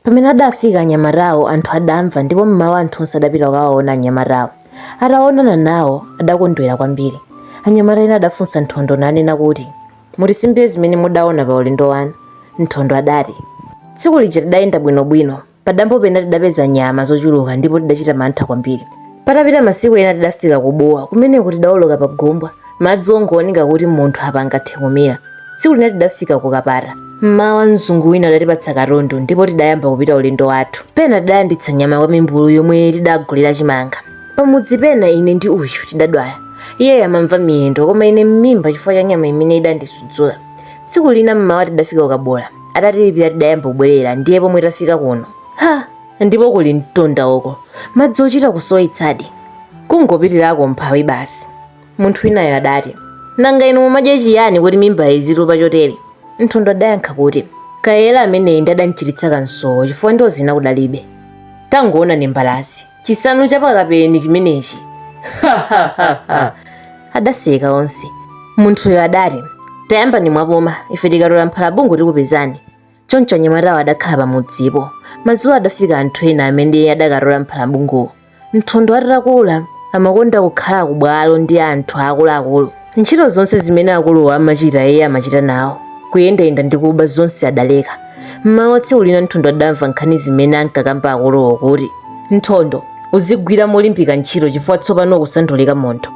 Pamene adafika anyamatawo, anthu adamva ndipo mmawa anthu onse adapita kukawaona anyamatawo. Ataonana nawo, adakondwera kwambiri. Anyamata ena adafunsa Nthondo nanena kuti, Mutisimbire zimene mudaona pa ulendo wanu. Nthondo adati, Tsiku lija tidayenda bwinobwino. Padambo pena tidapeza nyama zochuluka ndipo tidachita mantha kwambiri. Patapita masiku ena tidafika ku Bua. Kumeneko tidaoloka pa gumbwa. Madzi ongooneka kuti munthu apa angathe kumira. tsiku lina tidafika ku kapata mmawa mzungu wina adatipatsa katundu ndipo tidayamba kupita ulendo wathu pena tidalanditsa nyama kwa mimbulu yomwe tidagulira chimanga pamudzi pena ine ndi uyu tidadwala iye amamva miyendo koma ine m'mimba chifukwa cha nyama imene idandisudzula tsiku lina mmawa tidafika ku kabula atatilipira tidayamba kubwerera ndiye pomwe tafika kuno ha ndipo kuli mtunda uko madzi ochita kusowetsadi kungopitirako umphawi basi Munthu winayo adati, Nanga inu mumadya chiyani kuti mimbayi izitupa chotere? Nthondo adayankha kuti, Kayera ameneyi ndi adamchititsa kansowo chifukwa ndiwo zina kudalibe. Tangoonani mbalazi, chisanu cha pa Kapeni chimenechi! Adaseka onse. Munthuyo adati, Tayambani mwapuma, ife tikatola mphalabungu tikupezani. choncho anyamatawo adakhala pamudzipo madzulo adafika anthu ena amene adakatola mphalabunguwo nthondo atakula amakonda kukhala kubwalo ndi anthu akuluakulu ntchito zonse zimene akuluwo amachita iye amachita nawo kuyendayenda ndi kuba zonse adaleka mmawa tsiku lina nthondo adamva nkhani zimene ankakamba akuluwo kuti nthondo uzigwira molimbika ntchito chifukwa tsopano ukusandulika munthu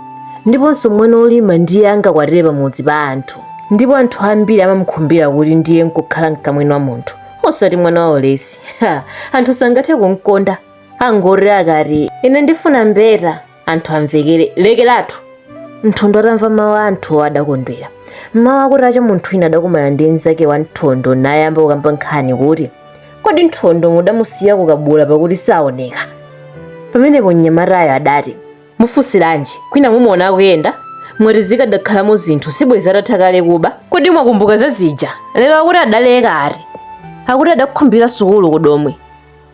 ndiponso mwana olima ndiye angakwatire pamudzi pa anthu ndipo anthu ambiri amamukhumbira kuti ndiye nkukhala mkamwini wa munthu osati mwana wa ulesi ha anthu sangathe kumkonda angoti akati ine ndifuna mbeta anthu amvekere lekeratu nthondo atamva mawu a anthuwo adakondwera mmawa kutacha munthu wina adakumana ndi mnzake wa nthondo nayamba kukamba nkhani kuti kodi nthondo mudamusiya ku kabula pakuti saoneka pamenepo mnyamatayo adati mufunsiranji kwina mumuona akuyenda mwati zikadakhalamo zinthu sibwezi atatha kale kuba kodi mwakumbuka za zija lero akuti adaleka ati akuti adakhumbira sukulu ku domwe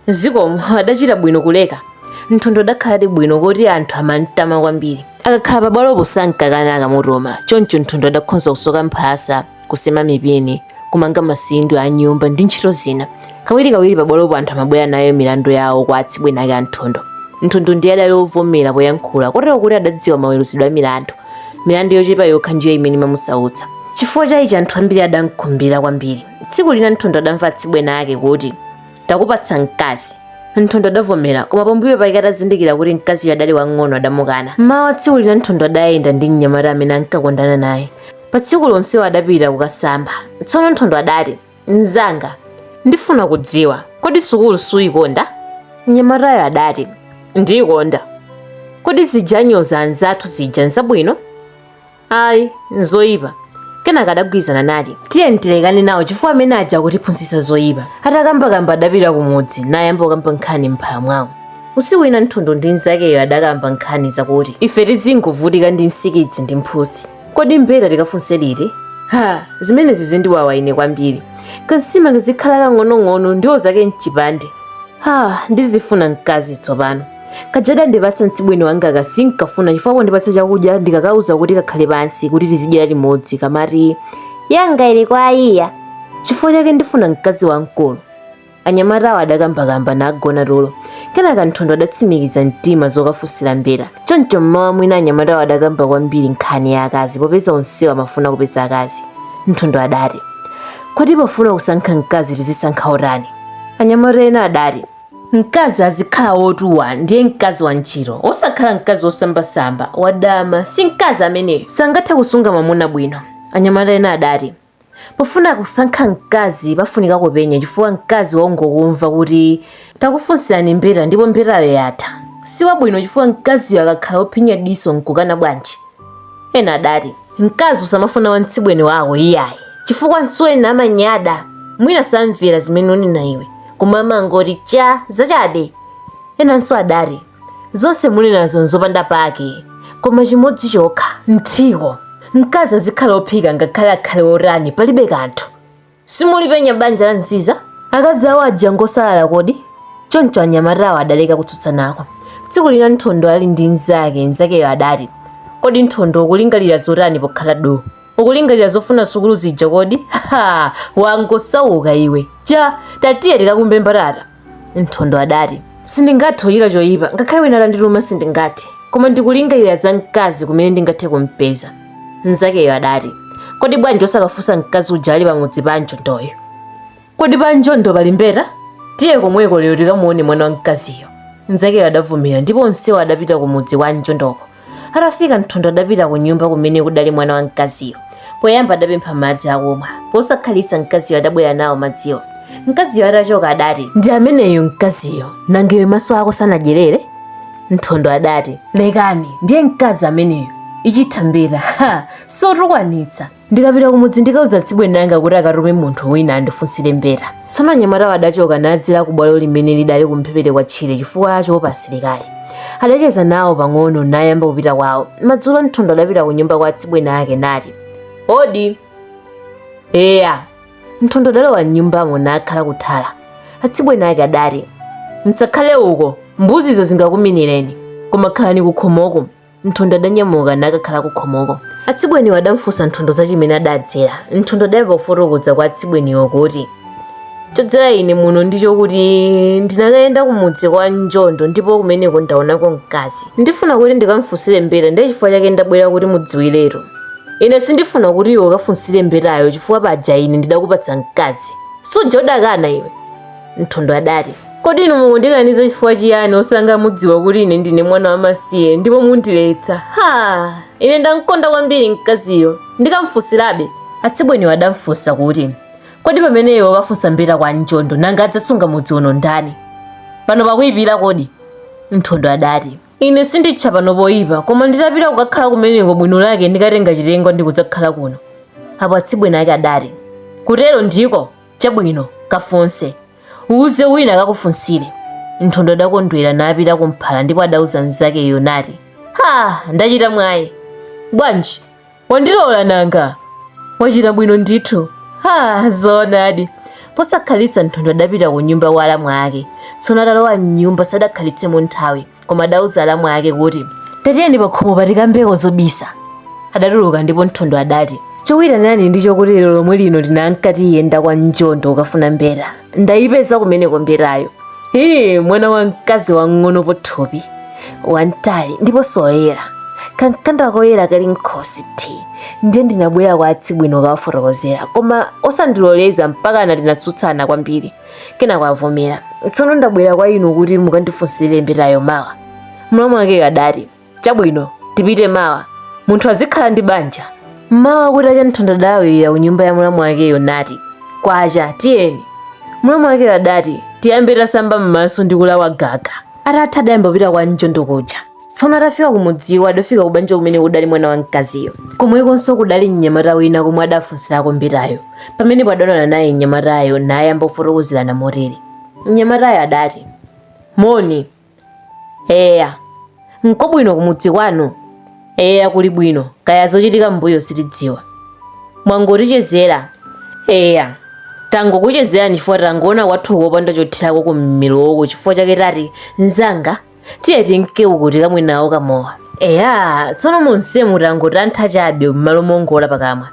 zikomo adachita bwino kuleka nthondo adakhaladi bwino kuti anthu amamtama kwambiri akakhala pabwalopo sankakana akamutuma choncho nthondo adakhonza kusoka mphasa kusema mipini kumanga masindwi a nyumba ndi ntchito zina kawirikawiri pabwalopo anthu amabwera nayo milandu yawo kwa atsibweni ake a nthondo nthondo ndiye adali ovomera poyankhula kotero kuti adadziwa maweruzidwe a milandu milandu yochepa yokha ndiyo imene imamusautsa chifukwa cha ichi anthu ambiri adamkhumbira kwambiri tsiku lina nthondo adamva atsibweni ake kuti takupatsa mkazi nthondo adavomera koma pambuyo pake atazindikira kuti mkaziyo adali wang'ono adamukana mmawa tsiku lina nthondo adayenda ndi mnyamata amene ankakondana naye Pa tsikulo onsewo adapita kukasamba. Tsono Nthondo adati, Mnzanga, ndifuna kudziwa, kodi sukulu suikonda? Mnyamatayo adati, Ndiikonda. Kodi zija anyoza anzathu zija nzabwino? Ayi, nzoyipa. Kenaka adagwirizana nati, tiyeni tilekane nawo chifukwa amene aja akutiphunzitsa zoyipa. Atakambakamba adapita kumudzi nayamba kukamba nkhani m'mphala mwawo. Usiku wina Nthondo ndi mnzakeyo adakamba nkhani zakuti, ife tizingovutika ndi nsikidzi ndi mphutsi. kodi mbeta tikafunse liti ha zimenezi zindiwawa ine kwambiri kansima kazikhala kang'onong'ono ndiwo zake mchipande ha ndizifuna mkazi tsopano kaja adandipatsa mtsibweni wangaka sinkafuna chifukwa pondipatsa chakudya ndikakauza kuti kakhale pansi kuti tizidyera limodzi kamati yanga ili kwa ayiya chifukwa chake ndifuna mkazi wamkulu anyamatawo adakambakamba nagona tulo kenaka nthondo adatsimikiza mtima zokafunsira mbeta choncho mmawa mwina anyamatawo adakamba kwambiri nkhani ya akazi popeza onsewo amafuna kupeza akazi nthondo adati kodi pofuna kusankha mkazi tizisankha otani anyamata ena adati mkazi azikhala wotuwa ndiye mkazi wa ntchito osakhala mkazi wosambasamba wadama si mkazi ameneyo sangathe kusunga mwamuna bwino anyamata ena adati Pofuna kusankha mkazi pafunika kupenya chifukwa mkazi wongokumva kuti takufunsirani mbeta ndipo mbetayo yatha si wabwino chifukwa mkaziyo akakhala wophinya diso n'kukana bwanji? Ena adati, Mkazi usamafuna wamtsibweni wako iyayi, chifukwa msuweni amanyada, mwina samvera zimene unena iwe, koma amangoti cha, zachabe! Enanso adati. zonse munenazo nzopanda pake koma chimodzi chokha mthiko mkazi azikhala ophika ngakhale akhale otani palibe kanthu simulipenya banja la nziza akazi awo aja ngosalala kodi choncho anyamatawo adaleka kutsutsanako tsiku lina nthondo ali ndi mnzake mnzakeyo adati kodi nthondo ukulingalira zotani pokhala du ukulingalira zofuna sukulu zija kodi ha wangosauka iwe cha tatiye tikakumbe mbatata Nthondo adati, Sindingathe kuchita choipa, ngakhale wina atandituma sindingathe, koma ndikulingalira za mkazi kumene ndingathe kumpeza. Mnzakeyo adati, Kodi bwanji osakafunsa mkazi uja ali pamudzi pa Anjondoyo? Kodi pa Anjondo pali mbeta? Tiye komweko lero tikamuone mwana wa mkaziyo. Mnzakeyo adavomera ndipo onsewo adapita kumudzi kwa Anjondoko. atafika nthondo adapita ku nyumba kumene kudali mwana wa mkaziyo poyamba adapempha madzi akumwa posakhalitsa mkaziyo adabwera nawo madziwo mkaziyo atachoka adati ndi ameneyo mkaziyo nanga iwe maso ako sanadyerere nthondo adati lekani ndiye mkazi ameneyo ichithambira ha sotukwanitsa ndikapita kumudzi ndikauza atsibweni anga kuti akatume munthu wina andifunsire mbeta tsono anyamatawo adachoka nadzera ku bwalo limene lidali kumphepete kwa tchire chifukwa choopa asilikali adacheza nawo pang'ono nayamba kupita kwawo madzulo nthondo adapita ku nyumba kwa atsibweni ake nati odi eya nthondo adalowa mnyumbamo nakhala kuthala atsibweni ake adati msakhale uko mbuzizo zingakuminireni koma khalani kukhomoko Nthondo adanyamuka nakakhala kukhomoko. Atsibweniwo adamfunsa Nthondo za chimene adadzera. Nthondo adayamba kufotokoza kwa atsibweniwo kuti, Chodzera ine muno ndicho kuti ndinakayenda kumudzi kwa Njondo ndipo kumeneko ndaonako mkazi. Ndifuna kuti ndikamfunsire mbeta ndiye chifukwa chake ndabwera kuti mudziwiretu. Ine sindifuna kuti iwe ukafunsire mbetayo chifukwa paja ine ndidakupatsa mkazi. Suja udakana iwe? nthondo adati kodi inu mukundikaniza chifukwa chiyani osanga mudziwa kuti ine ndine mwana wamasiye ndipo mundiletsa ha ine ndamkonda kwambiri mkaziyo ndikamfunsirabe atsibweniwo adamfunsa kuti kodi pamene iwe ukafunsa mbeta kwa njondo nanga adzasunga mudzi uno ndani pano pakuyipira kodi nthondo adati ine sinditcha pano poyipa koma nditapita kukakhala kumeneko bwino lake ndikatenga chitengwa ndikudzakhala kuno apo atsibweni ake adati kutero ndiko chabwino kafunse uwuze wina akakufunsire nthondo adakondwera napita kumphala ndipo adauza mnzakeyo nati ha ndachita mwayi bwanji wandilola nanga wachita bwino ndithu ha zoonadi posakhalitsa nthondo adapita ku nyumba kwa alamu ake tsono atalowa mnyumba sadakhalitsemo nthawi koma adauza alamu ake kuti tatiyeni pakhomo patikambeko zobisa adatuluka ndipo nthondo adati chokuitanani ndicho kuti lero lomwe lino ndinanka ndiyenda kwa njondo ukafuna mbeta ndayipeza kumeneko mbetayo ee mwana wa mkazi wang'ono pathupi wamtali ndiponso woyera kamkanda koyera kali mkhosi ti ndiye ndinabwera kwa atsibweni kukawafotokozera koma osandiloleza mpakana tinatsutsana kwambiri kenako avomera tsono ndabwera kwa inu kuti mukandifunsire mbetayo mawa mlamu wake adati chabwino tipite mawa munthu azikhala ndi banja mmawa kutacha nthondo adalawirira ku nyumba ya mlamu wakeyo nati kwacha tiyeni mlamu wake adati tiyambe tasamba m'maso ndi kulawa gaga atatha adayamba kupita kwa njondo kuja tsono atafika kumudziwo adafika kubanja kumene kudali mwana wa mkaziyo komwekonso kudali mnyamata wina komwe adafunsirako mbetayo pamenepo adaonana naye mnyamatayo nayamba kufotokozerana motere mnyamatayo adati moni eya nkobwino kumudzi kwanu eya kuli bwino kaya zochitika mbuyo sitidziwa mwangotichezera eya tangokuchezerani chifukwa tangoona kwathu kopanda chothirako kummeroko chifukwa chake tati mzanga tiye tinke uku tikamwe nawo kamowa eya tsono monsemu tangotantha chabe m'malo mongola pakamwa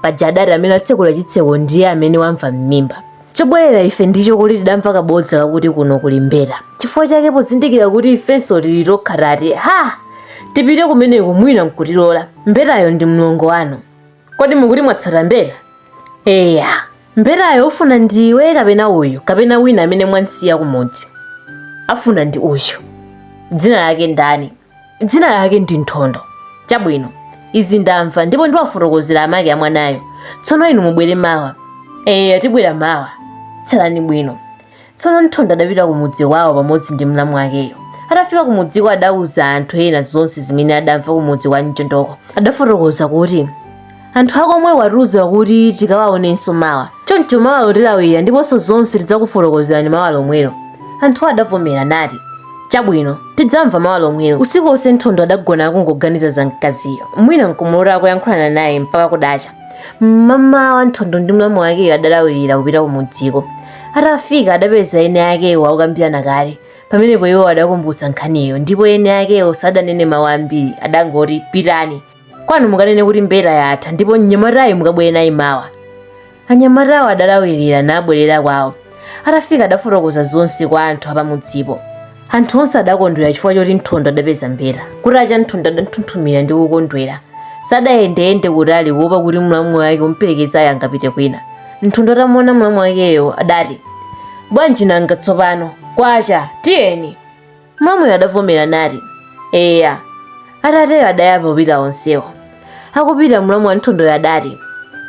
paja adati amene atsekula chitseko ndiye amene wamva m'mimba chobwerera ife ndicho kuti tidamva kabodza kakuti kuno kuli mbeta chifukwa chake pozindikira kuti ifenso tili tokha tati ha tipite kumeneko mwina nkutilola mbetayo ndi mlongo wanu kodi mukuti mwatsata mbeta eya mbetayo ofuna ndiwe kapena uyu kapena wina amene mwansiya kumudzi afuna ndi uyu dzina lake ndani dzina lake ndi nthondo chabwino izi ndamva ndipo ndiwafotokozera amake a mwanayo tsono inu mubwere mawa eya tibwera mawa tsalani bwino tsono nthondo adapita ku mudzi wawo pamodzi ndi mlamu wakeyo atafika ku mudziko adauza anthu ena zonse zimene adamva ku mudzi wa mchondoko adafotokoza kuti anthu akomwe atiuza kuti tikawaonenso mawa choncho mawa tilawira ndiponso zonse tidzakufotokozerani mawa lomwelo anthu adavomera nati chabwino tidzamva mawa lomwelo usiku wonse nthondo adagona akungoganiza za mkaziyo mwina nkumulota akuyankhulana naye mpaka kudacha mmamawa nthondo ndi mlamu wakeyo adalawirira kupita ku mudziko atafika adapeza eni akewo akukambirana kale pamenepo iwo adakumbutsa nkhaniyo ndipo eni akewo sadanene mawu ambiri adangoti pitani kwanu mukanene kuti mbeta yatha ndipo mnyamatayo mukabwere naye mawa anyamatawo adalawirira nabwerera kwawo atafika adafotokoza zonse kwa anthu apamudzipo anthu onse adakondwera chifukwa choti nthondo adapeza mbeta kutacha nthondo adanthunthumira ndi kukondwera sadayendeyende kutali kuopa kuti mlamu wake omperekezayo angapite kwina nthondo atamuona mlamu wakeyo adati bwanji nanga tsopano kwacha tiyeni mlamuyo adavomera nati eya atatero adayamba kupita onsewo akupita mlamu wa nthondoyo adati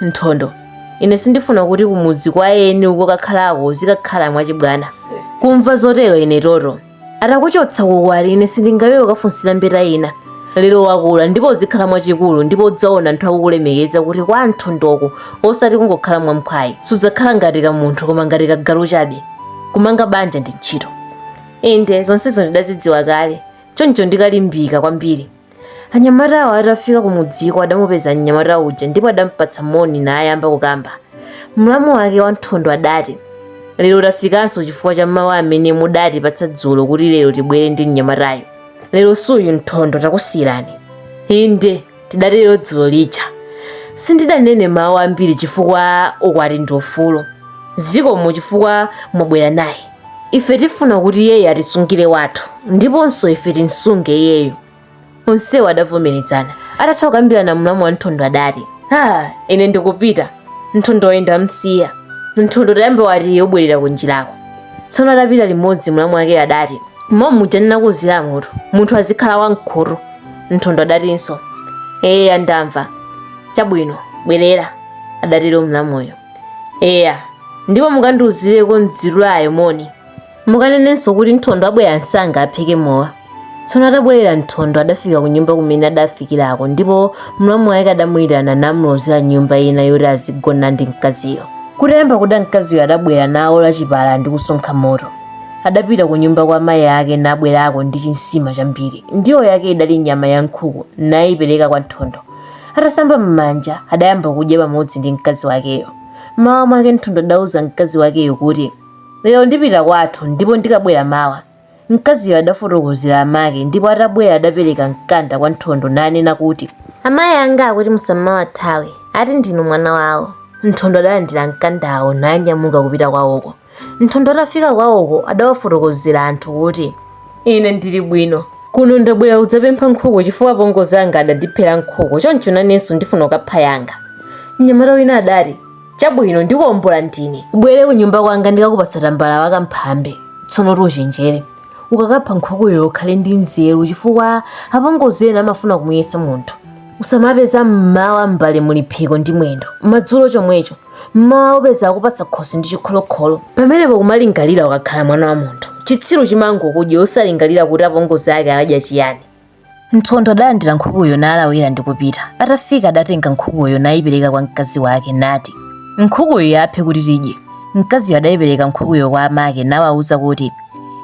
nthondo ine sindifuna kuti kumudzi kwa eni ukakakhalako uzikakhala mwachibwana kumva zotero ine toto atakuchotsa kukwati ine sindingalole kukafunsira mbeta ina lero wakula ndipo uzikhala mwachikulu ndipo udzaona anthu akukulemekeza kuti kwa nthondoko osati kungokhala mwamphwayi sudzakhala ngati ka munthu koma ngati ka galu chabe kumanga banja ndi ntchito inde zonsezo ndidazidziwa kale choncho ndikalimbika kwambiri anyamatawo atafika kumudziko adamupeza mnyamata uja ndipo adampatsa moni nayamba kukamba mlamu wake wa nthondo adati lero tafikanso chifukwa cha mawu amene mudatipatsa dzulo kuti lero tibwere ndi mnyamatayo lero suyu nthondo takusiyirani inde tidatero dzulo lija sindidanene mawu ambiri chifukwa ukwati ndi ufulu zikomo chifukwa mwabwera naye ife tifuna kuti iyeyo atisungire wathu ndiponso ife timsunge iyeyo onsewo adavomerezana atatha kukambirana mlamu wa nthondo adati ine ndikupita nthondo oyenda msiya nthondo tayamba wati ubwerera kunjirako tsono atapita limodzi mlamu wake adati mwa muja ndinakuuziramutu munthu azikhala wamkhutu Nthondo adatinso, eya ndamva. Chabwino, bwerera, adatero mlamuyo. Eya, ndipo mukandiuzireko mdzirulayo moni. Mukanenenso kuti Nthondo abwera msanga aphike mowa. Tsono atabwerera Nthondo adafika ku nyumba kumene adafikirako ndipo mlamu wake adamuyitana namulozera nyumba ina yoti azigona ndi mkaziyo. Kutayamba kuda mkaziyo adabwera nawola chipala ndi kusonkha moto. Adapita kunyumba kwa mai ake nabwerako ndi chinsima chambiri. Ndiwo yake idali nyama ya nkhuku naipereka kwa Nthondo. Atasamba m'manja adayamba kudya pamodzi ndi mkazi wakeyo. M'mawa mwake Nthondo adauza mkazi wakeyo kuti, Lero ndipita kwathu ndipo ndikabwera mawa. Mkaziyo adafotokozera amake ndipo atabwera adapereka mkanda kwa Nthondo nanena kuti, Amayi anga akuti musamawathawe, ati ndinu mwana wawo. Nthondo adalandira mkandawo nanyamuka kupita kwawoko. Nthondo atafika kwawoko adawafotokozera anthu kuti, Ine ndili bwino. Kuno ndabwera kudzapempha nkhuku chifukwa apongozi anga adandiphera nkhuku, choncho nanenso ndifuna kukapha yanga. Mnyamata wina adati, Chabwino, ndikuombola ndine. Ubwere kunyumba kwanga ndikakupatsa tambala wa kamphambe. Tsonotu uchenjere. Ukakapha nkhukuyo ukhale ndi nzeru chifukwa apongozi ena amafuna kumuyesa munthu. Usamapeza m'mawa m'mbale muli phiko ndi mwendo, madzulo chomwecho. mmawa upeza akupatsa khosi ndi chikholokholo pamenepo kumalingalira ukakhala mwana wa munthu chitsiru chimangokudya osalingalira kuti apongozi ake aladya chiyani nthondo adalandira nkhukuyo nalawira ndi kupita atafika adatenga nkhukuyo nayipereka kwa mkazi wake nati nkhukuyo aphe kuti tidye mkaziyo adayipereka nkhukuyo kwa amake nawawuza kuti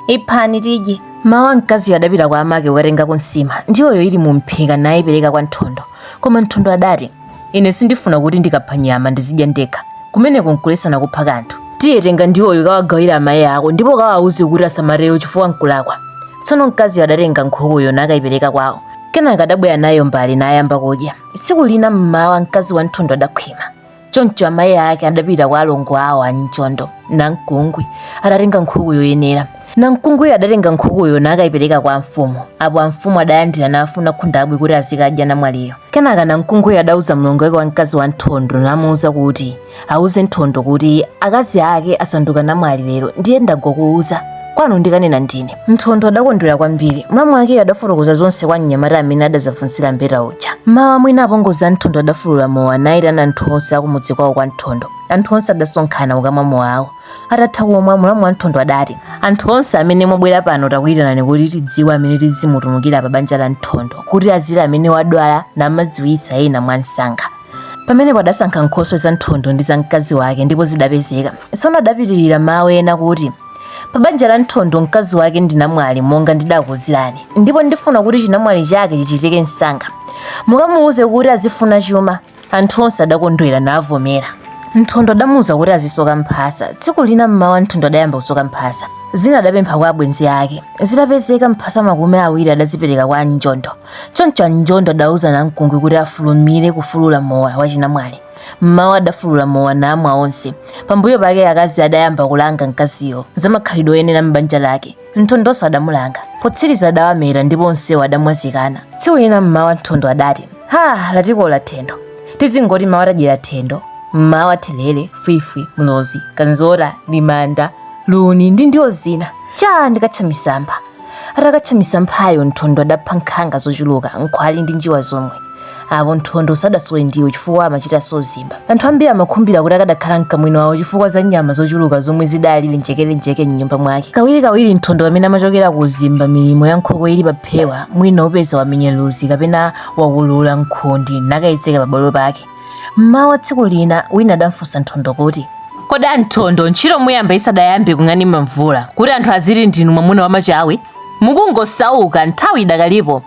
iphani tidye mawa mkaziyo adapita kwa amake kukatengako nsima ndiwoyo ili mu mphika nayipereka kwa nthondo koma nthondo adati ine sindifuna kuti ndikapha nyama ndizidya ndekha kumeneko nkuletsana kupha kanthu tiye tenga ndiwoyo kawagawira amayi ako ndipo kawauze kuti asamatero chifukwa nkulakwa tsono mkaziyo adatenga nkhukuyo nakayipereka kwawo kenaka adabwera nayo mmbale nayamba kudya tsiku lina mmawa mkazi wa nthondo adakhwima choncho amayi ake adapita kwa alongo awo a mchondo namkungwi adatenga nkhuku yoyenera Namkungwi adatenga nkhukuyo nakaipereka kwa amfumu. Apo amfumu adalandira nafuna khundabwi kuti azikadya namwaliyo. Kenaka namkungwi adauza mlongo wake wa mkazi wa Nthondo namuuza kuti auze Nthondo kuti akazi ake asanduka namwali lero ndiye ndangokuuza kwanu ndikanena ndine. Nthondo adakondwera kwambiri. Mlamu wakeyo adafotokoza zonse kwa mnyamata amene adazafunsira mbeta uja. Mawa mwina apongozi a Nthondo adafulula mowa naitana anthu onse akumudzi kwawo kwa Nthondo. Anthu onse adasonkhana kukamwa mowawo. atatha kumwa mlamu wa nthondo adati anthu onse amene mwabwera pano takuyitanani kuti tidziwe amene tizimutumikira pa banja la nthondo kuti aziti amene wadwala namadziwitsa ena mwa msanga pamenepo adasankha nkhoswe za nthondo ndi za mkazi wake ndipo zidapezeka tsono adapitirira mawu ena kuti pa banja la nthondo mkazi wake ndi namwali monga ndidakuuzirani ndipo ndifuna kuti chinamwali chake chichitike msanga mukamuwuze kuti azifuna chuma Anthu onse adakondwera navomera. Nthondo adamuuza kuti azisoka mphasa. Tsiku lina mmawa Nthondo adayamba kusoka mphasa. Zina adapempha kwa abwenzi ake. Zitapezeka mphasa makumi awiri adazipereka kwa Anjondo. Choncho Anjondo adauza namkungwi kuti afulumire kufulula mowa wachinamwali. Mmawa adafulula mowa namwa onse. Pambuyo pake akazi adayamba kulanga mkaziyo za makhalidwe oyenera m'banja lake. Nthondonso adamulanga. Potsiriza adawameta ndipo onsewo adamwazikana. Tsiku lina mmawa Nthondo adati, Ha, latikola thendo. Tizingoti mawa tadyera thendo, mmawa therere, fwifwi, mlozi, kanzora, limanda, luni ndi ndiwo zina. Chaa ndikatcha misampha. Atakatcha misamphayo Nthondo adapha nkhanga zochuluka, nkhwali ndi njiwa zomwe. apo nthondo sadasowe ndiwo chifukwa amachitanso uzimba anthu ambiri amakhumbira kuti akadakhala mkamwini wawo chifukwa za nyama zochuluka zomwe zidali lenjekelenjeke mnyumba mwake kawirikawiri nthondo pamene amachokera kuuzimba milimo ya nkhokwe ili paphewa mwina upeza wamenya luzi kapena wakulula nkhundi nakayedzeka pabwalo pake mmawa tsiku lina wina adamfunsa nthondo kuti kodi anthondo ntchito muyamba isadayambe kung'anima mvula kuti anthu aziti ndinu mwamuna wamachawi mukungosauka nthawi idakalipo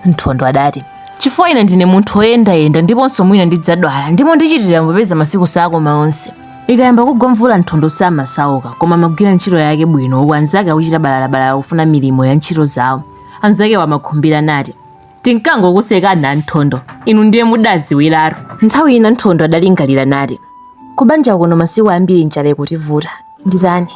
Nthondo adati, Chifukwa ine ndine munthu woyendayenda ndiponso mwina ndidzadwala ndipo ndichitiratu popeza masiku sakoma onse. Ikayamba kugwa mvula Nthondo samasauka koma amagwira ntchito yake bwino uku anzake akuchita balalabalala kufuna milimo ya ntchito zawo. Anzakewo amakhumbira nati, Tinkangokusekani a Nthondo, inu ndiye mudaziwiratu. Nthawi ina Nthondo adalingalira nati, Kubanja kuno masiku ambiri njala ikutivuta. Nditani?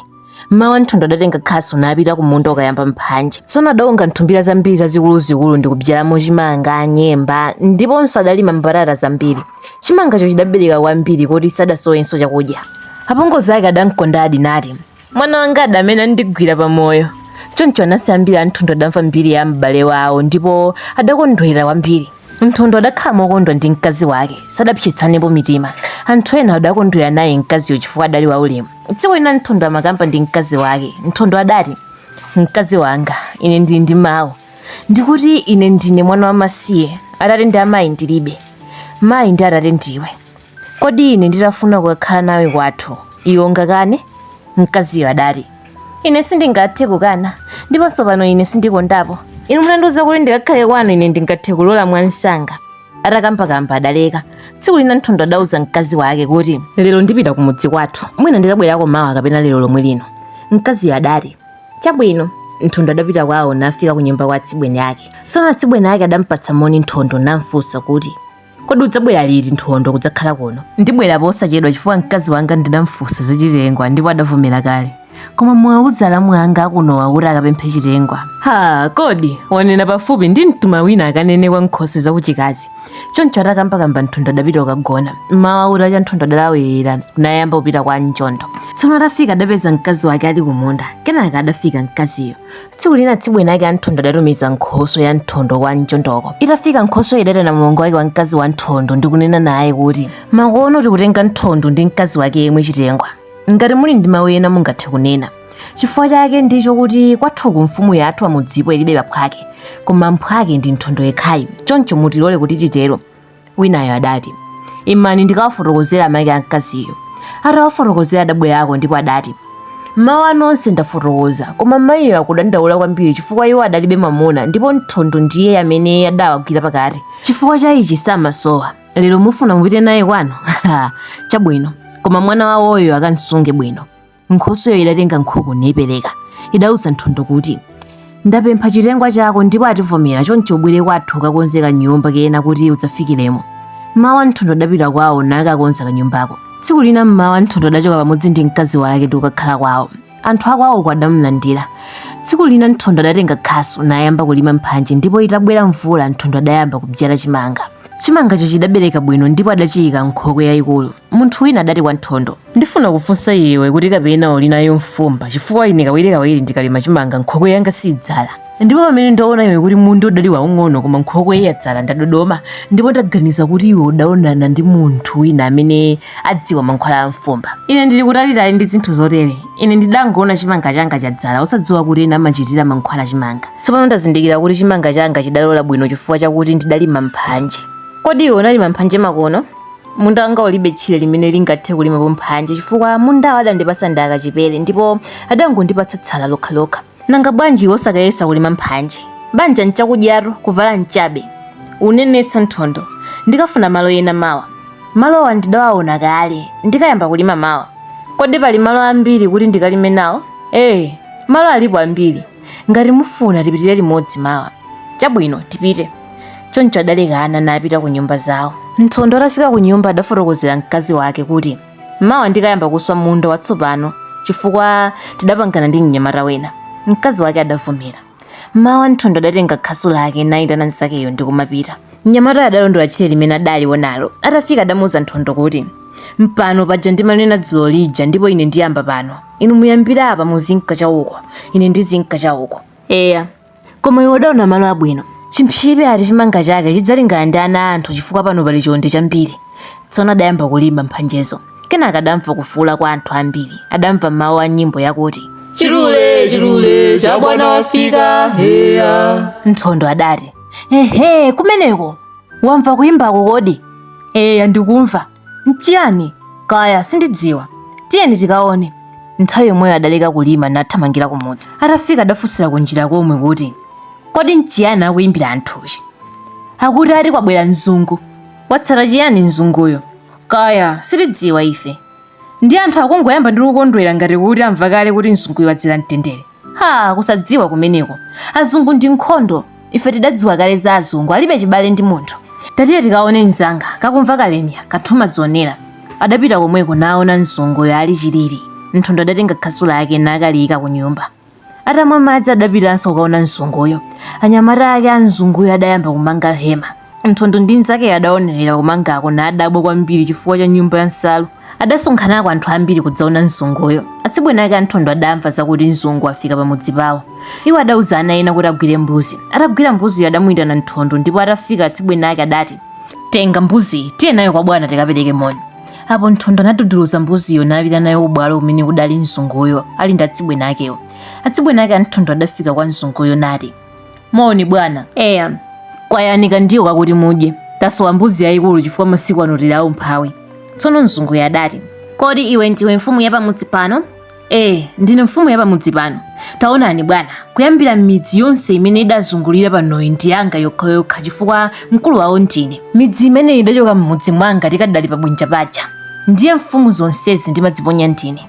mmawa nthondo adatenga khasu napita kumunda kukayamba mphanje tsono adaunga nthumbira zambiri zazikuluzikulu ndi kubyalamo chimanga nyemba ndiponso adalima mbatata zambiri chimangacho chidabereka kwambiri koti sadasowenso chakudya apongozi ake adamkondadi nati mwana wanga adamene andigwira pamoyo choncho anansi ambiri a nthondo adamva mbiri ya m'bale wawo ndipo adakondwera kwambiri Nthondo adakhala mokondwa ndi mkazi wake, sadapsetsanepo mitima. Anthu ena adakondwera naye mkaziyo chifukwa adali waulemu. Tsiku lina Nthondo amakamba ndi mkazi wake. Nthondo adati, Mkazi wanga, ine ndili ndi mawu. Ndikuti ine ndine mwana wamasiye, atate ndi amayi ndilibe. Mayi ndi atate ndiwe. Kodi ine nditafuna kukakhala nawe kwathu, iwe ungakane? Mkaziyo adati, Ine sindingathe kukana, ndiponso pano ine sindikondapo. Inu munandiuza kuti ndikakhale kwanu ine ndingathe kulola mwamsanga. Atakambakamba adaleka. Tsiku lina Nthondo adauza mkazi wake kuti, Lero ndipita kumudzi kwathu, mwina ndikabwerako mawa kapena lero lomwe lino. Mkaziyo adati, Chabwino. Nthondo adapita kwawo nafika kunyumba kwa atsibweni ake. Tsono atsibweni ake adampatsa moni Nthondo namfunsa kuti, kodi udzabwera liti nthondo kudzakhala kuno ndibwera posachedwa chifukwa mkazi wanga ndidamfunsa za chitengwa ndipo adavomera kale koma muwauze alamu anga akunowa kuti akapemphe chitengwa ha kodi wanena pafupi ndimtuma wina akanene kwa nkhoswe zakuchikazi choncho atakambakamba nthondo adapita kukagona mmawa kutacha nthondo adalawirira nayamba kupita kwa mchondo tsono atafika adapeza mkazi wake ali kumunda kenaka adafika mkaziyo tsiku lina atsibweni ake a nthondo adatumiza nkhoswe ya nthondo kwa mchondoko itafika nkhoswe idaitana mlongo wake wa mkazi wa nthondo ndi kunena naye kuti makono tikutenga nthondo ndi mkazi wake yemwe chitengwa ngati muli ndi mawu ena mungathe kunena chifukwa chake ndicho kuti kwathuku mfumu yathu ya mudzipo ilibe aphwake koma mphwake ndi nthondo yekhayo choncho mutilole kuti titero winayo adati imani ndikawafotokozera amake a mkaziyo atawafotokozera adabwerako ndipo adati mawu anu onse ndafotokoza koma mayiyo akudandaula kwambiri chifukwa iwo adalibe mwamuna ndipo nthondo ndiye amene adawagwira pakati chifukwa cha ichi samasowa lero mufuna mupite naye kwanu chabwino koma mwana wawoyo akamsunge bwino nkhosweyo idatenga nkhuku niipereka idauza nthondo kuti ndapempha chitengwa chako ndipo ativomera choncho ubwere kwathu ukakonze kanyumba kena kuti udzafikiremo mmawa nthondo adapita kwawo nakakonza kanyumbako tsiku lina mmawa nthondo adachoka pamodzi ndi mkazi wake ndi kukakhala kwawo anthu akwawoko adamlandira tsiku lina nthondo adatenga khasu nayamba kulima mphanje ndipo itabwera mvula nthondo adayamba kubyala chimanga chimangacho chidabereka bwino ndipo adachiyika nkhokwe yayikulu munthu wina adati kwa nthondo Ndifuna kufunsa iwe kuti kapena uli nayo mfumba chifukwa ine kawirikawiri ndikalima chimanga nkhokwe yanga sidzala ndipo pamene ndaona iwe kuti munda udali waung'ono koma nkhokwe yadzala ndadodoma ndipo ndaganiza kuti iwe udaonana ndi munthu wina amene adziwa mankhwala a mfumba ine ndili kutalitali ndi zinthu zotere ine ndidangoona chimanga changa chadzala osadziwa kuti ena amachitira mankhwala chimanga tsopano ndazindikira kuti chimanga changa chidalola bwino chifukwa chakuti ndidalima mphanje kodi iwe unalima mphanje makono munda wanga ulibe tchire limene lingathe kulimapo mphanje chifukwa mundawo adandipasa ndi a kachipere ndipo adangondipatsa tsala lokhalokha nanga bwanji wosakayesa kulima mphanje banja nchakudyatu kuvala nchabe unenetsa nthondo ndikafuna malo ena mawa malowa ndidawaona kale ndikayamba kulima mawa kodi pali malo ambiri kuti ndikalime nawo ee malo alipo ambiri ngati mufuna tipitire limodzi mawa chabwino tipite choncho adalekana napita ku nyumba zawo nthondo atafika ku nyumba adafotokozera mkazi wake kuti mawa ndikayamba kuswa munda watsopano chifukwa tidapangana ndi mnyamata wina mkazi wake adavomera mawa nthondo adatenga khasu lake nayitana nzakeyo ndi kumapita mnyamatayo adalondola tchire limene adaliwonalo atafika adamuuza nthondo kuti mpano paja ndimanena dzulo lija ndipo ine ndiyamba pano inu muyambire apa muzinka chauko ine ndizinka chauko eya koma iwe udaona malo abwino chimpsebe ati chimanga chake chidzalingana ndi ana a anthu chifukwa pano pali chonde chambiri tsono adayamba kulima mphanjezo kenaka adamva kufuula kwa anthu ambiri adamva mawu a nyimbo yakuti chilule chilule cha bwana wafika heya nthondo adati ehe kumeneko wamva kuyimbako kodi eya ndikumva N'chiyani? Kaya, sindidziwa. Tiyeni tikaone. Nthawi yomweyo adaleka kulima nathamangira kumudzi. Atafika adafunsira kunjira komwe kuti, Kodi n'chiyani akuyimbira anthuchi? Akuti ati kwabwera mzungu. Watsata chiyani mzunguyo? Kaya, sitidziwa ife. Ndi anthu akungoyamba ndi kukondwera ngati kuti amva kale kuti mzunguyo wadzera mtendere. ha kusadziwa kumeneko azungu ndi nkhondo ife tidadziwa kale za azungu alibe chibale ndi munthu tatiye tikaone mzanga kakumva kalenya kathuma dzonera adapita komweko naona mzunguyo ali chilili nthondo adatenga khasu lake nakaliyika ku nyumba atamwa madzi adapitanso kukaona mzunguyo anyamata ake a mzunguyo adayamba kumanga hema nthondo ndi mnzakeyo adaonerera kumangako nadabwa kwambiri chifukwa cha nyumba ya nsalu Adasonkhanako anthu ambiri kudzaona mzunguyo. Atsibweni ake a Nthondo adamva zakuti mzungu wafika pamudzi pawo. Iwo adauza ana ena kuti agwire mbuzi. Atagwira mbuziyo adamuyitana Nthondo ndipo atafika atsibweni ake adati, Tenga mbuziyi, tiye nayo kwa bwana tikapereke moni. Apo Nthondo anaduduluza mbuziyo napita nayo kubwalo kumene kudali mzunguyo ali ndi atsibweni akewo. Atsibweni ake a Nthondo adafika kwa mzunguyo nati, Moni bwana. Eya, kwayani kandiwo kakuti mudye. Tasowa mbuzi yayikulu chifukwa masiku ano tili aumphawi. Tsono mzunguyo adati. Kodi iwe ndiwe mfumu ya pamudzi pano? Eh, ndine mfumu ya pamudzi pano. Taonani bwana, kuyambira midzi yonse imene idazungulira panoyi ndi yanga yokhayokha chifukwa mkulu wawo ndine. Midzi imene idachoka m'mudzi mwanga tikadali pabwinja paja. Ndiye mfumu zonsezi ndimadziponya ndine.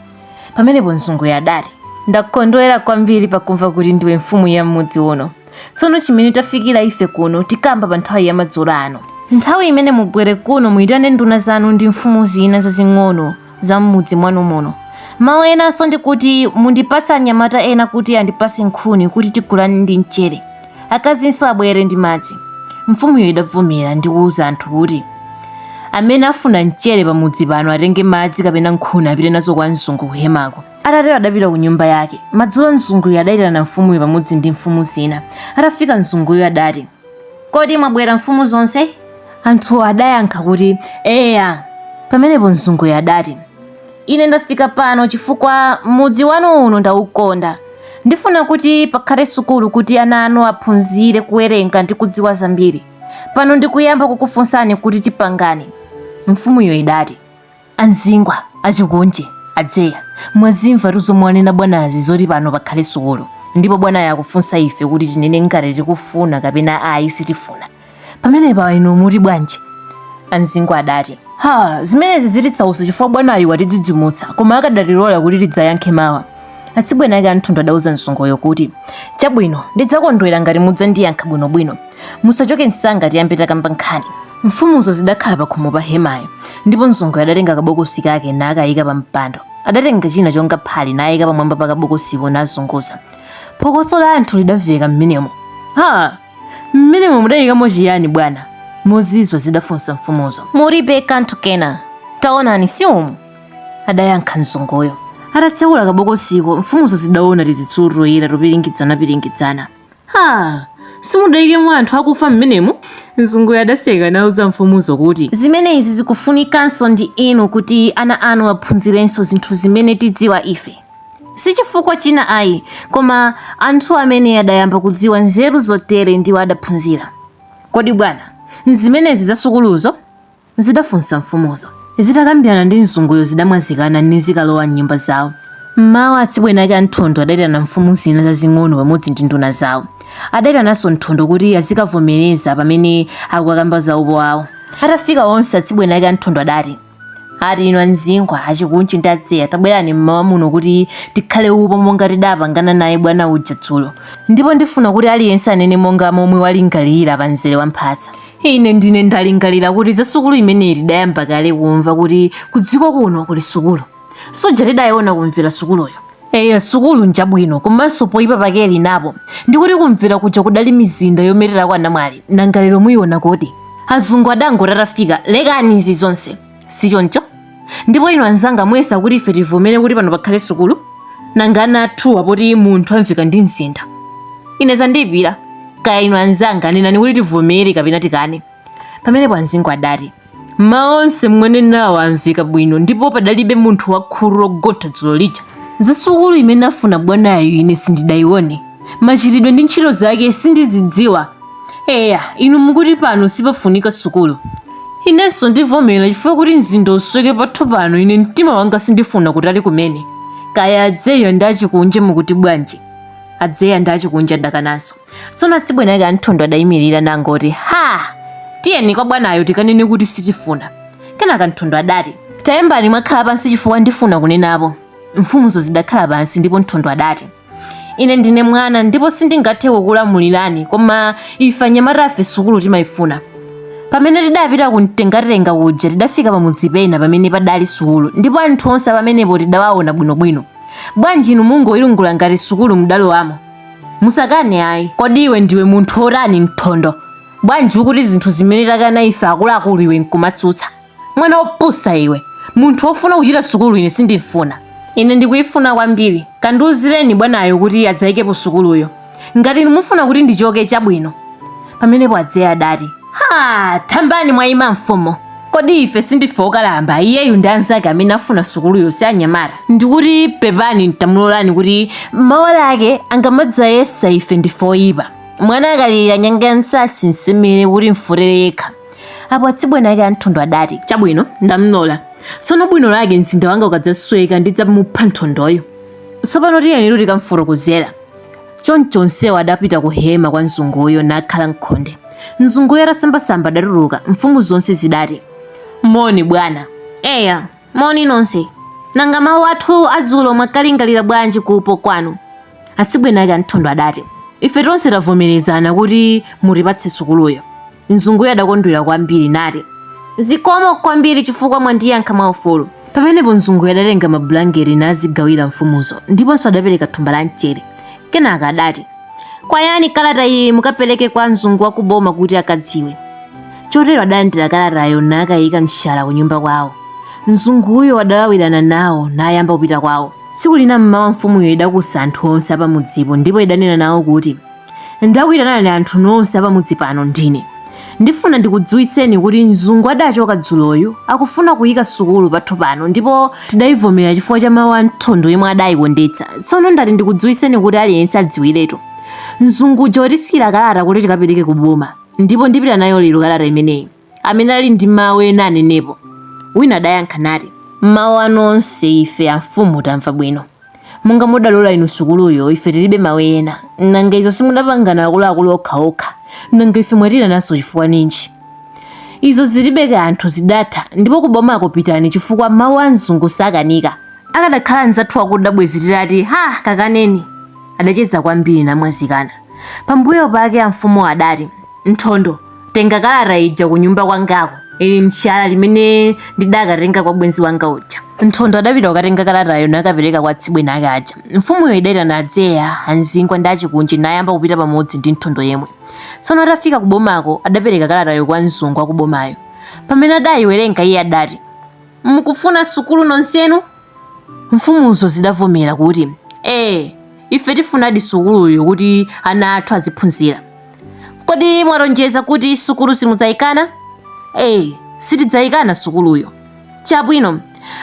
pamenepo mzunguyo adati ndakondwera kwambiri pakumva kuti ndiwe mfumu ya m'mudzi uno tsono chimene tafikira ife kuno tikamba pa nthawi ya madzulo ano nthawi imene mubwere kuno muyitane nduna zanu ndi mfumu zina zazing'ono za m'mudzi mwanu muno mawu enanso ndi kuti mundipatse anyamata ena kuti andipatse nkhuni kuti tigulane ndi mchere akazinso abwere ndi madzi. Mfumuyo idavomera ndi kuuza anthu kuti, Amene afuna mchere pamudzi pano atenge madzi kapena nkhuni apite nazo kwa mzungu kuhemako. Atatero adapita ku nyumba yake. Madzulo mzunguyo adaitana mfumuyo pamodzi ndi mfumu zina. Atafika mzunguyo adati, Kodi mwabwera mfumu zonse? Anthu adayankha kuti, Eya. Pamenepo mzunguyo adati, Ine ndafika pano chifukwa mudzi wanu uno ndaukonda. Ndifuna kuti pakhale sukulu kuti ana anu aphunzire kuwerenga ndi kudziwa zambiri. Pano ndikuyamba kukufunsani kuti tipangane. Mfumuyo idati, a Mzingwa, a Chikunje, a Dzeya, mwazimvatu zomwe wanena bwanazi zoti pano pakhale sukulu, ndipo bwanayo akufunsa ife kuti tinene ngati tikufuna kapena ayi sitifuna. pamenepa inu muti bwanji a mzingwa adati ha zimenezi zititsausa chifukwa bwanayu watidzidzimutsa koma akadatilola kuti tidzayankhe mawa atsibweni ake a nthondo adauza mzunguyo kuti chabwino ndidzakondwera ngati mudzandiyankha bwinobwino musachoke msanga tiyambe takamba nkhani mfumuzo zidakhala pakhomo pa hemayo ndipo mzunguyo adatenga kabokosi kake nakayika pa mpando adatenga china chonga phale nayika pamwamba pa kabokosipo nazunguza phokoso la anthu lidamveka mmenemo ha Mmenemo mudayikamo chiyani bwana? Mozizwa zidafunsa mfumuzo. Mulibe kanthu kena. Taonani si umu, adayankha mzunguyo. Atatsekula kabokosiko, mfumuzo zidaona tizitsulu toyera topiringidzanapiringidzana. Ha! Simudayikemo anthu akufa mmenemo? Mzunguyo adaseka nauza mfumuzo kuti. Zimene izi zikufunikanso ndi inu kuti ana anu aphunzirenso zinthu zimene tidziwa ife. Si chifukwa china ayi, koma anthu amene adayamba kudziwa nzeru zotere ndiwo adaphunzira. Kodi bwana, nzimenezi za sukuluzo? zidafunsa mfumuzo. Zitakambirana ndi mzunguyo zidamwazikana nizikalowa m'nyumba zawo. M'mawa atsibweni ake a Nthondo adaitana mfumu zina zazing'ono pamodzi ndi nduna zawo. Adaitananso Nthondo kuti azikavomereza pamene akukakamba za upo wawo. Atafika onse, atsibweni ake a Nthondo adati. ati inu a mzingwa a chikunje ndi a dzeya tabwerani mmawa muno kuti tikhale upo monga tidapangana naye bwana uja dzulo ndipo ndifuna kuti aliyense anene monga momwe walingalira pa mzere wa mphasa ine ndine ndalingalira kuti za sukulu imeneyi tidayamba kale kumva kuti kudziko kuno kuli sukulu suja tidayiona ku mvera sukuluyo eya sukulu njabwino komanso poyipa pake ili napo ndikuti ku mvera kuja kudali mizinda yomererako anamwali nanga lero muyiona kodi azungu adangoti atafika lekani izi zonse si choncho ndipo inu anzanga muyesa kuti ife tivomere kuti pano pakhale sukulu nanga ana athuwa poti munthu amveka ndi mzinda ine zandiyipira kaya inu anzanga nenani kuti tivomere kapena tikane pamenepo amzingwa adati Mawu onse mwanenawo amveka bwino ndipo padalibe munthu wakhutu logontha dzulo lija. Za sukulu imene afuna bwanayu ine sindidayione. Machitidwe ndi ntchito zake sindizidziwa. Eya, inu mukuti pano sipafunika sukulu. Inenso ndivomera chifukwa kuti mzinda usweke pathu pano ine mtima wanga sindifuna kutali kumene. Kaya a Dzeya ndi a Chikunja mukuti bwanji? A Dzeya ndi a Chikunja adakananso. tsono atsibweni ake a nthondo adayimirira nangoti ha tiyeni kwa bwanayo tikanene kuti sitifuna kenaka nthondo adati tayambani mwakhala pansi chifukwa ndifuna kunenapo mfumuzo zidakhala pansi ndipo nthondo adati ine ndine mwana ndipo sindingathe kukulamulirani koma ife anyamatafe sukulu timayifuna pamene tidapita kumtengatenga kuja tidafika pamudzi pena pamene padali sukulu ndipo anthu onse pamenepo tidawaona bwinobwino bwanji inu mungoyilungula ngati sukulu mudalowamo musakane ayi kodi iwe ndiwe munthu otani nthondo bwanji ukuti zinthu zimene takana ife akuluakulu iwe nkumatsutsa mwana wopusa iwe munthu wofuna kuchita sukulu ine sindimfuna ine ndikuyifuna kwambiri kandiuzireni bwanayo kuti adzayikepo sukuluyo ngati inu mufuna kuti ndichoke chabwino pamenepo a dzeya adati ha tayambani mwayima mfumu Kodi ife sindife okalamba, iyeyu ndi anzake amene afuna sukuluyo si anyamata? Ndikuti pepani n'tamulolani kuti mawa lake angamadzayesa ife ndife oyipa. Mwana akalirira nyanga ya msatsi msemere kuti imfotere yekha. Apo atsibweni ake a Nthondo adati, Chabwino, ndamlola. Tsono bwino lake mzinda wanga ukadzasweka ndidzamupha Nthondoyo. Tsopano tiyenitu tikamfotokozera. Choncho onsewo adapita ku hema kwa mzunguyo nakhala m'khonde. Mzunguyo atasambasamba adatuluka, mfumu zonse zidati, Moni bwana. Eya, moni nonse. Nanga mawu athu adzulo mwakalingalira bwanji ku upo kwanu? Atsibweni ake a Nthondo adati, Ife tonse tavomerezana kuti mutipatse sukuluyo. Mzunguyo adakondwera kwambiri nati, Zikomo kwambiri chifukwa mwandiyankha mwaufulu. Pamenepo mzunguyo adatenga mabulangeti nazigawira mfumuzo, ndiponso adapereka thumba la mchere. Kenaka adati, Kwayani kalata iyi mukapereke kwa mzungu wa ku boma kuti akadziwe. Chotero adalandira kalatayo nakayika m'shala kunyumba kwawo. Mzunguyo adalawirana nawo nayamba kupita kwawo. Tsiku lina m'mawa mfumuyo idakusa anthu onse apamudzipo ndipo idanena nawo kuti, Ndakuitanani anthu nonse apamudzi pano ndine. Ndifuna ndikudziwitseni kuti mzungu adachoka dzuloyu akufuna kuyika sukulu pathu pano ndipo tidayivomera chifukwa cha mawu a Nthondo yemwe adayikondetsa. Tsono ndati ndikudziwitseni kuti aliyense adziwiretu. Mzungu uja watisikira kalata kuti tikapereke ku boma ndipo ndipita nayo lero kalata imeneyi. amene ali ndi mawu ena anenepo. Wina adayankha nati, Mawu anu onse ife amfumu tamva bwino. Monga mudalola inu sukuluyo, ife tilibe mawu ena. Nanga izo simudapangana akuluakulu okhaokha? Nanga ife mwatiitananso chifukwa ninji? Izo zilibe kanthu, zidatha, ndipo kubomako pitani chifukwa mawu a mzungu sakanika. Akadakhala anzathu akuda bwezi titati, Ha! Kakaneni! Adacheza kwambiri namwazikana. Pambuyo pake amfumuwo adati, Nthondo, tenga kalata ija ku nyumba kwangako ili mshala limene ndidakatenga kwa bwenzi wanga uja nthondo adapita kukatenga kalatayo nakapereka kwa atsibweni ake aja mfumuyo idaitana a dzeya a nzingwa ndi a chikunji nayamba kupita pamodzi ndi nthondo yemwe tsono atafika ku bomako adapereka kalatayo kwa mzungu wa ku bomayo pamene adayiwerenga iye adati mukufuna sukulu nonsenu mfumuzo zidavomera kuti ee ife tifunadi sukuluyo kuti ana athu aziphunzira kodi mwalonjeza kuti sukulu simudzayikana ee sitidzayikana sukuluyo chabwino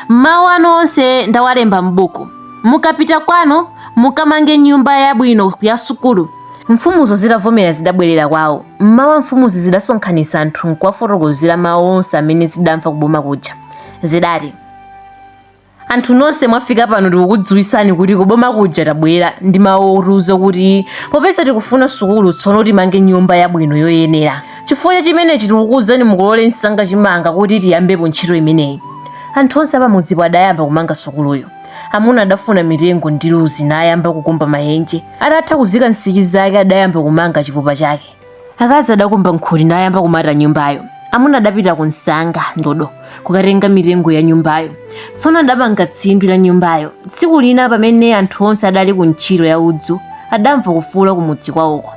mawu anu onse ndawalemba m'buku mukapita kwanu mukamange nyumba yabwino ya sukulu mfumuzo zitavomera zidabwerera kwawo mmawa mfumuzo zidasonkhanitsa anthu nkuwafotokozera mawu onse amene zidamva kuboma kuja zidati anthu nonse mwafika pano tikukudziwitsani kuti kuboma kuja tabwera ndi mawu otiuza kuti popeza tikufuna sukulu tsono timange nyumba yabwino yoyenera chifukwa cha chimenechi tikukuuzani mukolole msanga chimanga kuti tiyambepo ntchito imeneyi anthu onse apamudzipo adayamba kumanga sukuluyo amuna adafuna mitengo ndi luzi nayamba kukumba mayenje atatha kuzika nsichi zake adayamba kumanga chipupa chake akazi adakumba nkhuti nayamba kumata nyumbayo amuna adapita ku nsanga ndodo kukatenga mitengo ya nyumbayo tsono adamanga tsindwi la nyumbayo tsiku lina pamene anthu onse adali ku ntchito ya udzu adamva kufuula kumudzi kwawoko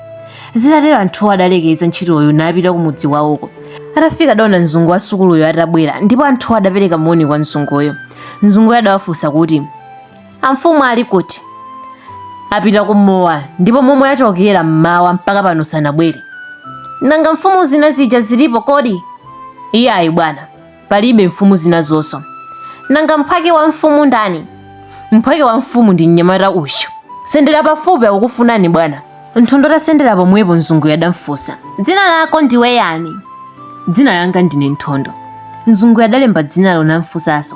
zitatero anthuwo adalekeza ntchitoyo napita kumudzi kwawoko atafika adaona mzungu wa sukuluyo atabwera ndipo anthuwo adapereka moni kwa mzunguyo mzunguyo adawafunsa kuti Amfumu ali kuti? Apita kumowa ndipo momwe achokera mmawa mpaka pano sanabwere. Nanga mfumu zina zija zilipo kodi? Iyayi bwana, palibe mfumu zina zonso. Nanga mphwake wa mfumu ndani? Mphwake wa mfumu ndi mnyamata uyu. Sendera pafupi akukufunani bwana. nthondo atasendera pomwepo mzunguyo adamfunsa dzina lako ndiwe yani dzina langa ndine nthondo mzunguyo adalemba dzinalo namfunsanso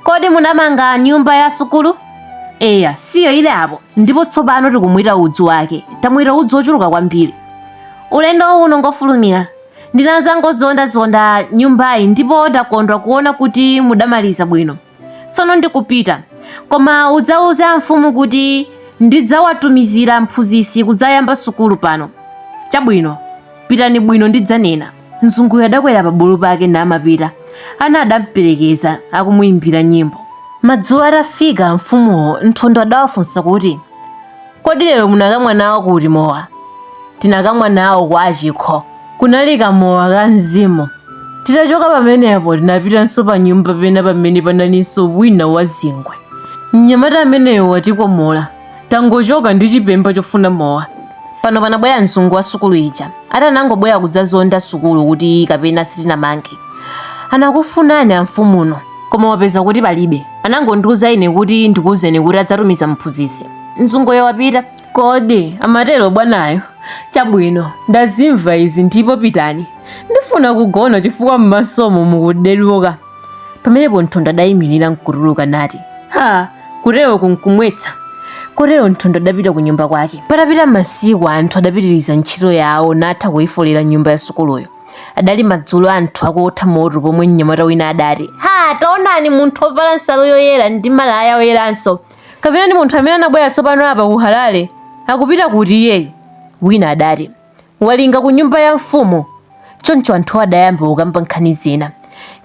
kodi munamanga nyumba ya sukulu eya siyo ile apo ndipo tsopano tikumweta udzu wake tamweta udzu wochuluka kwambiri ulendo uno ngofulumira ndinadzangozondazonda nyumbayi ndipo ndakondwa kuona kuti mudamaliza bwino Tsono ndikupita, koma udzauze amfumu kuti ndidzawatumizira mphunzitsi kudzayamba sukulu pano. Chabwino, pitani bwino ndidzanena. Mzunguyo adakwera pa bulu pake namapita. Ana adamperekeza akumuimbira nyimbo. Madzulo atafika amfumuwo, Nthondo adawafunsa kuti. Kodi lero munakamwa nawo kuti mowa? Tinakamwa nawo kwa achikho. Kunali kamowa ka mzimu. Titachoka pamenepo tinapitanso pa nyumba pena pamene panalinso wina wa zingwe. Mnyamata ameneyo watikomola. Tangochoka ndi chipemba chofuna mowa. Pano panabwera mzungu wa sukulu ija. Ati anangobwera kudzazonda sukulu kuti kapena sitinamange. Anakufunani amfumuno, koma wapeza kuti palibe. Anangondiuza ine kuti ndikuuzeni kuti adzatumiza mphunzitsi. mzunguyo wapita kodi amatero bwanayo chabwino ndazimva izi ndipo pitani ndifuna kugona chifukwa m'masomo mukuderuka pamenepo nthondo adayimirira nkutuluka nati ha kuteroku nkumwetsa kotero nthondo adapita ku nyumba kwake patapita masiku anthu adapitiriza ntchito yawo natha kuyifolera nyumba ya sukuluyo adali madzulo anthu akuotha moto pomwe mnyamata wina adati ha taonani munthu ovala nsalu yoyera ndi malaya oyeranso kapena ndi munthu amene anabwera tsopano apa ku Harare? Akupita kuti iyeyu? Wina adati, Walinga ku nyumba ya mfumu. Choncho anthu adayamba kukamba nkhani zina.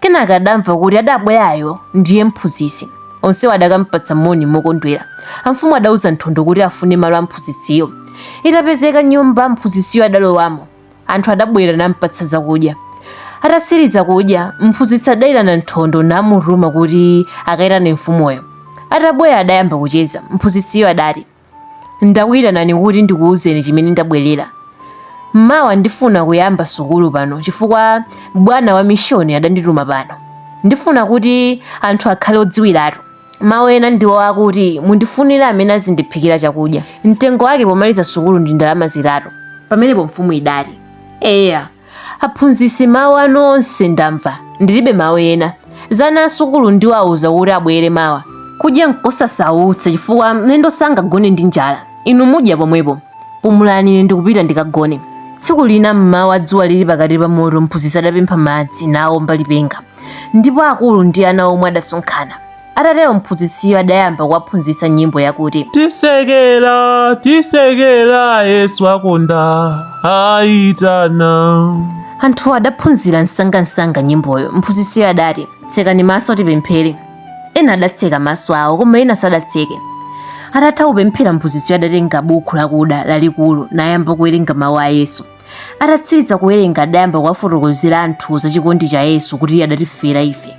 Kenaka adamva kuti adabwerayo ndiye mphunzitsi. Onsewo adakampatsa moni mokondwera. Amfumu adauza Nthondo kuti afune malo a mphunzitsiyo. Itapezeka nyumba mphunzitsiyo adalowamo. anthu adabwera nampatsa zakudya atatsiriza kudya mphunzitsi adayitana nthondo namutuma kuti akayitane mfumuyo atabwera adayamba kucheza mphunzitsiyo adati ndakuyitanani kuti ndikuwuzeni chimene ndabwerera m'mawa ndifuna kuyamba sukulu pano chifukwa bwana wa mishoni adandituma pano ndifuna kuti anthu akhale odziwiratu Mawu ena ndiwo akuti, Mundifunire amene azindiphikira chakudya. Mtengo wake pomaliza sukulu ndi ndalama zitatu. Pamenepo mfumu idati, Eya, aphunzitsi, mawu anu onse ndamva, ndilibe mawu ena. Za ana asukulu ndiwauza kuti abwere mawa. Kudya nkosasautsa, chifukwa mlendo sangagone ndi njala. Inu mudya pomwepo. Pumulani, ine ndikupita ndikagone. Tsiku lina m'mawa dzuwa lili pakati pa mutu, mphunzitsi adapempha madzi, naomba lipenga. ndipo akulu ndi ana omwe adasonkhana atatero mphunzitsiyo adayamba kuwaphunzitsa nyimbo yakuti tisekera tisekera yesu akonda aitana anthu adaphunzira msangamsanga nyimboyo mphunzitsiyo adati tsekani maso tipemphere ena adatseka maso awo koma ena sadatseke atatha kupemphera mphunzitsiyo adatenga buku lakuda lalikulu nayamba kuwerenga mawu a yesu atatsiriza kuwerenga adayamba kuwafotokozera anthuwo za chikondi cha yesu kuti iye adatifera ife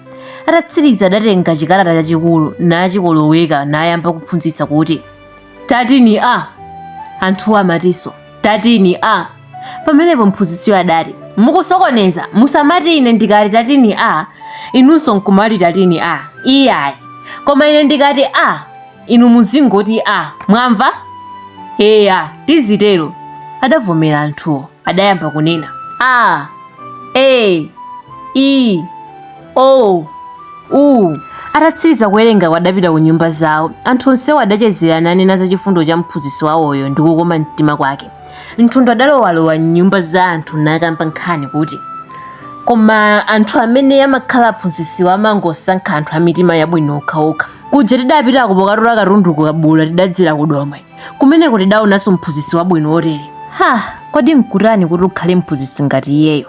atatsiriza adatenga chikalata chachikulu nachikoloweka nayamba kuphunzitsa kuti tatini a anthuwo amatinso tatini a pamenepo mphunzitsiyo adati mukusokoneza musamati ine ndikati tatini a inunso nkumati tatini a iyayi koma ine ndikati a inu muzingoti a mwamva eya tizitero adavomera anthuwo adayamba kunena a e i o u atatsiriza kuwerenga adapita ku nyumba zawo anthu onsewo adachezera nanena za chifundo cha mphunzitsi wawoyo ndi kukoma mtima kwake nthondo adalowalowa m'nyumba za anthu nakamba nkhani kuti koma anthu amene amakhala aphunzitsi amangosankha anthu a mitima yabwino okhaokha kuja tidapita kukatola katundu ku kabula tidadzera ku domwe kumeneko tidaonanso mphunzitsi wabwino wotere ha kodi nkutani kuti ukhale mphunzitsi ngati iyeyo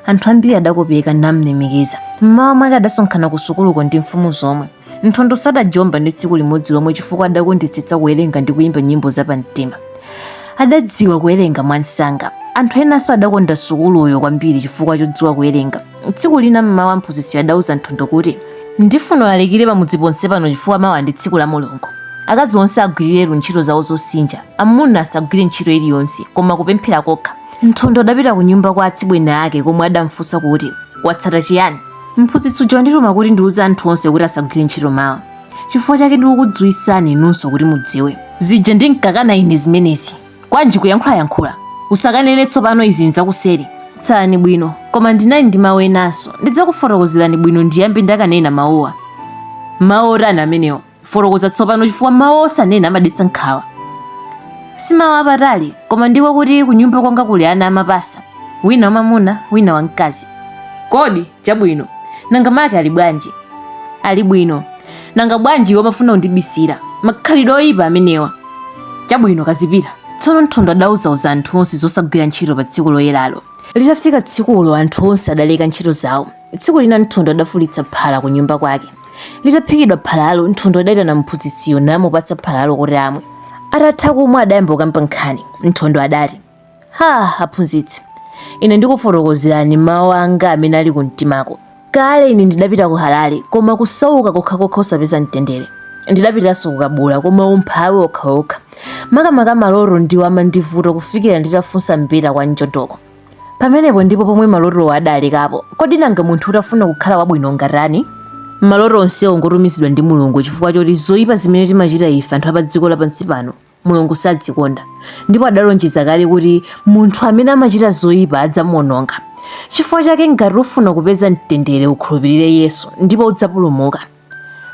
anthu ambiri adakopeka namlemekeza mmawa mwake adasonkhana ku sukuluko ndi mfumu zomwe nthondo sadajomba ndi tsiku limodzi lomwe chifukwa adakondetsetsa kuwerenga ndi kuyimba nyimbo zapamtima adadziwa kuwerenga mwamsanga anthu enanso adakonda sukuluyo kwambiri chifukwa chodziwa kuwerenga Tsiku lina mmawa mphunzitsiyo adauza Nthondo kuti, Ndifuna ulalikire pamudzi ponse pano chifukwa mawa ndi tsiku la Mulungu. Akazi onse agwiriretu ntchito zawo zosinja, amuna asagwire ntchito iliyonse, koma kupemphera kokha. Nthondo adapita kunyumba kwa atsibweni ake komwe adamfunsa kuti, Kwatsata chiyani? Mphunzitsi uja wandituma kuti ndiuze anthu onse kuti asagwire ntchito mawa. Chifukwa chake ndikukudziwitsani inunso kuti mudziwe. Zija ndinkakana ine zimenezi. kwanji kuyankhulayankhula usakanene tsopano izi nzakuseri tsalani bwino koma ndinali ndi mawu enanso ndidzakufotokozerani bwino ndiyambe ndakanena mawuwa mawu otani amenewo fotokoza tsopano chifukwa mawu osanena amadetsa nkhawa si mawu apatali koma ndiko kuti kunyumba kwanga kuli ana amapasa wina wamamuna wina wamkazi kodi Chabwino. Nanga make ali bwanji? Ali bwino. Nanga bwanji iwe umafuna kundibisira? Makhalidwe oyipa amenewa. Chabwino kazipita. Tsono Nthondo adauzauza anthu onse zosagwira ntchito pa tsiku loyeralo. Litafika tsikulo anthu onse adaleka ntchito zawo. Tsiku lina Nthondo adafulitsa phala ku nyumba kwake. Litaphikidwa phalalo, Nthondo adaitana mphunzitsiyo namupatsa phalalo kuti amwe. Atatha kumwa adayamba kukamba nkhani. Nthondo adati, Ha, aphunzitsi, ine ndikufotokozerani mawu anga amene ali kumtimako. Kale ine ndidapita ku Harare, koma kusauka kokhakokha osapeza mtendere. Ndidapitanso ku Kabula, koma umphawi wokhawokha. Makamaka maloto ndiwo amandivuta kufikira nditafunsa mbeta kwa Mchotoko. Pamenepo ndipo pomwe malotowo adalekapo. Kodi nanga munthu utafuna kukhala wabwino ungatani? Maloto onsewo ngotumizidwa ndi Mulungu chifukwa choti zoipa zimene timachita ife anthu apadziko lapansi pano mulungu sazikonda ndipo adalonjeza kale kuti munthu amene amachita zoyipa adzamuononga chifukwa chake ngati ufuna kupeza mtendere ukhulupirire yesu ndipo udzapulumuka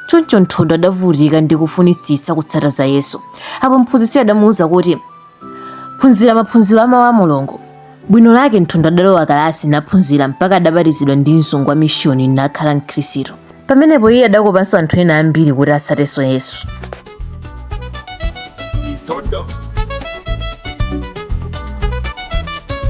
choncho nthondo adavutika ndi kufunitsitsa kutsata za yesu apo mphunzitsiyo adamuwuza kuti phunzira maphunziro amawu a mulungu Bwino lake Nthondo adalowa kalasi naphunzira mpaka adabatizidwa ndi mzungu wa mishoni nakhala Mkhristu. Pamenepo iye adakopanso anthu ena ambiri kuti atsatenso Yesu.